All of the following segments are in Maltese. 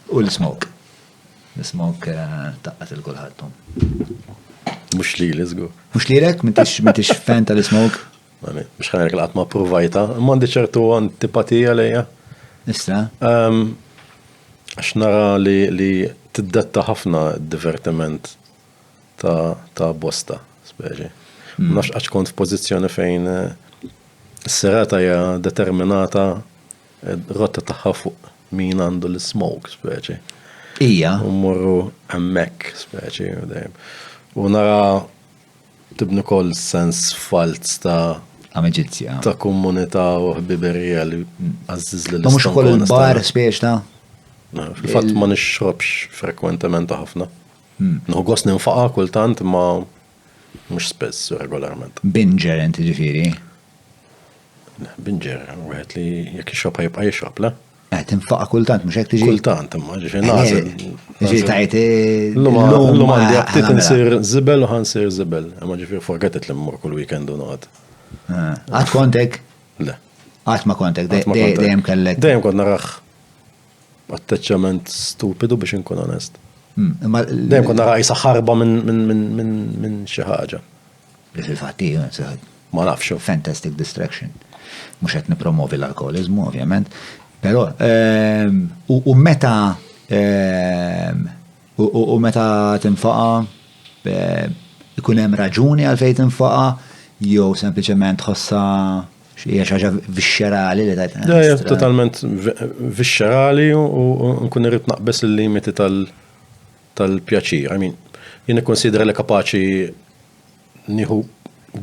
U l-smoke. L-smoke taqqat il-kulħadd. Mux li li zgur. Mux li lek, mintix fan tal-smoke. Mux ħanek l-għat ma provajta, mandi ċertu antipatija lejja. Issa. Għax nara li t-detta ħafna divertiment ta' bosta, speċi. Mm. Nax għax kont f-pozizjoni fejn eh, s-serata hija determinata Rotta tagħha fuq min għandu l-smoke, speċi. Ija. U morru hemmhekk, speċi, dejjem. U nara tibni kol sens falz ta' amicizja. Ta' komunità u ħbiberija li mm. għazziz li l-istan. Mux kol il-bar spiex ta' Fil-fat ma nixrobx frekwentement ħafna. Hmm. Nħu għos ninfaqa kultant ma mux spess regolarment. Binger inti ġifiri? Binger, wieħed li jekk ixrobha jibqa' jixrob, le? Eh, tinfaqa kultant, mux tiġi. Kultant, imma ġifi eh, nażel. Ġi tajt. Eh, l-lum għandi għattit ah, nsir zibel u ħansir zibel. Imma ġifi forgetet li mmur kull weekend u noqgħod. Ah, għat kontek? Le. Għat ma kontek, dejjem kellek. Dejjem kont narax atteċċament stupidu biex inkun onest. Hmm, dejjem kont narax jisaxarba minn xi ħaġa. Li fil-fatt hi, ma nafx, fantastic distraction. Mhux qed nippromovi l-alkoholiżmu, ovvjament. Però ehm, u meta ehm, u meta tinfaqa ehm, ikun hemm raġuni għalfejn tinfaqa jew sempliċement ħossa hija xi ħaġa vixxerali li tajt. Eh, totalment vixxerali u nkun irrid naqbes il-limiti tal- tal-pjaċir. I mean, jien nikkunsidra li kapaċi nieħu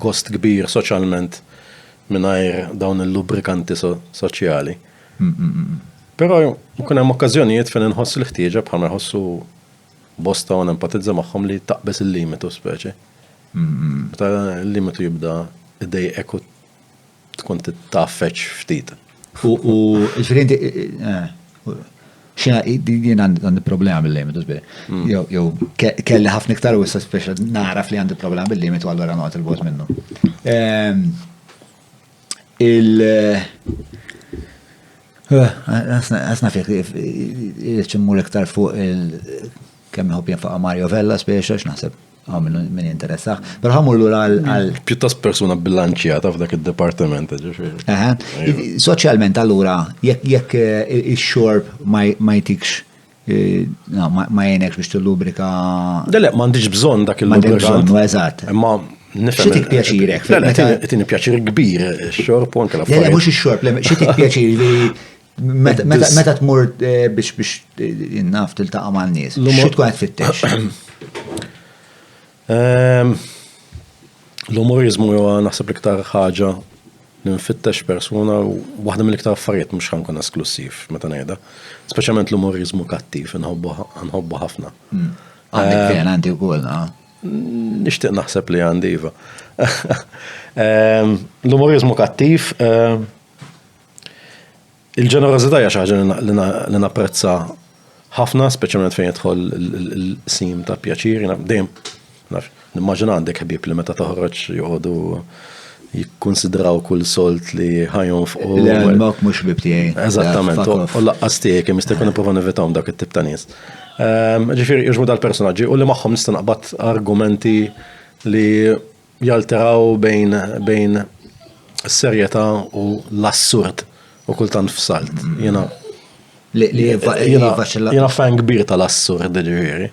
gost kbir soċjalment mingħajr dawn il-lubrikanti soċjali. Però jkun hemm okkażjonijiet fejn inħoss l-ħtieġa bħal ma jħossu bosta u nempatizza magħhom li taqbeż il-limitu speċi. Meta l-limitu jibda id-dej eku tkun titgħaffeġ ftit. U ġifieri inti eh, Xena, jien għandi problema bil-limitu, zbir. Mm. Jow, kelli ħafna iktar u issa speċa naraf li għandi problema bil-limitu għallura noqgħod il-bot minnu. Ehm, il- eh, Għasna fiek, ċimmur iktar fuq il- kemm jħob jenfaqa Mario Vella speċa, x'naħseb Ah, minn min jinteressaħ. Pero ħamur lura għal. Pjuttost persuna bilanċjata f'dak id-dipartiment, ġifieri. Iva. Soċjalment allura jekk eh, ix-xorb ma jtikx eh, ma jenekx biex tillubrika. Dele, ma għandix bżonn dak il-lubrikant. Eżatt. Imma nifhem. Xitik pjaċirek. Dele, tini pjaċir kbir ix-xorb u anke la. Dele, mhux ix-xorb, xitik pjaċir Meta tmur eh, biex biex eh, naf tiltaqa' ma' nies, xi tkun qed fittex? Ehm, l-umorizmu huwa naħseb l-iktar ħaġa li nfittex persuna u waħda mill-iktar affarijiet mhux ħankun esklusiv meta ngħidha. Speċjalment l-umorizmu kattiv nħobbu ħafna. Hmm. Għandi ehm, kien għandi wkoll, ah. Nixtieq naħseb li għandi iva. Ehm, l-umorizmu kattiv Il-ġenerożità hija xi ħaġa li napprezza ħafna, speċjalment fejn jidħol il-qsim ta' pjaċir. Jiena dejjem naf, nimmaġina għandek ħbieb li meta toħroġ joqogħdu jikkunsidraw kull solt li ħajhom fuq. Le, mak mhux ħbieb tiegħi. Eżattament, u laqqas tiegħek, jekk jista' jkun ipprova nevitahom dak it-tip ta' nies. Ehm, ġifieri, jiġu dal-personaġġi u li magħhom nista' naqbad argumenti li Jalteraw bejn bejn serjetà u l-assurd u kultant f'salt. Jiena li jiena fan kbir tal-assurd ġifieri.